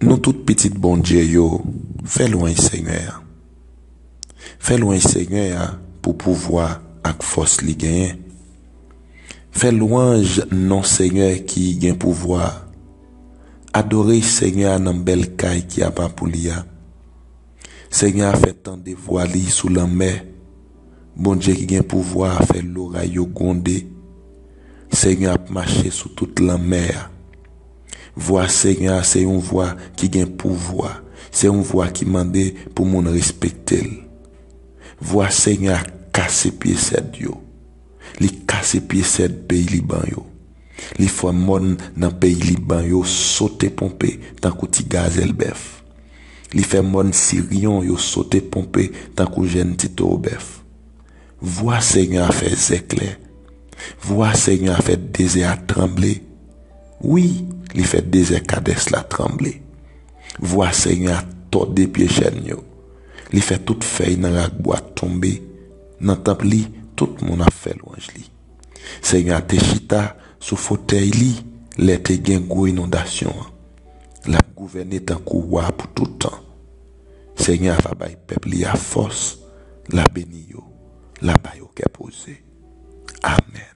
Nou tout pitit Bondye yo fè lwanj Senyè a. Fè lwanj Senyè a pou pouvwa ak fòs li genyen. Fè lwanj non Senyè ki gen pouvwa a. Adore Senyè a nan bèl kay ki apa pou li a. Senyè a fè tande vwa li sou lanmè, Bondye ki gen pouvwa a fè loray yo gwonde. Senyè a ap mache sou tout lanmè a. Vwa Senyè a se yon vwa ki gen pouvwa, se yon vwa ki mande pou moun respekte l. Vwa Senyè a kase pye sèd yo, li kase pye sèd peyi Liban yo, li fè mòn nan peyi Liban yo sote ponpe tankou ti gazèl bèf. Li fè mòn Siryon yo sote ponpe tankou jenn ti towo bèf. Vwa Senyè a fè zèklè, vwa Senyè a fè dezè a tranble, wi, li fè dezè Kadès la tranble. Vwa Senyè a tòde pye chèn yo, li fè tout fèy nan rakbwa tonbe. Nan tanp li, tout moun ap fè lwanj li. Senyè a te chita sou fotèy li lè te gen gwo inondasyon an. L ap gouvène tankou wa pou tout tan. Senyè a va bay pèp li a fòs, l a beni yo, l a ba yo kè poze. Amèn.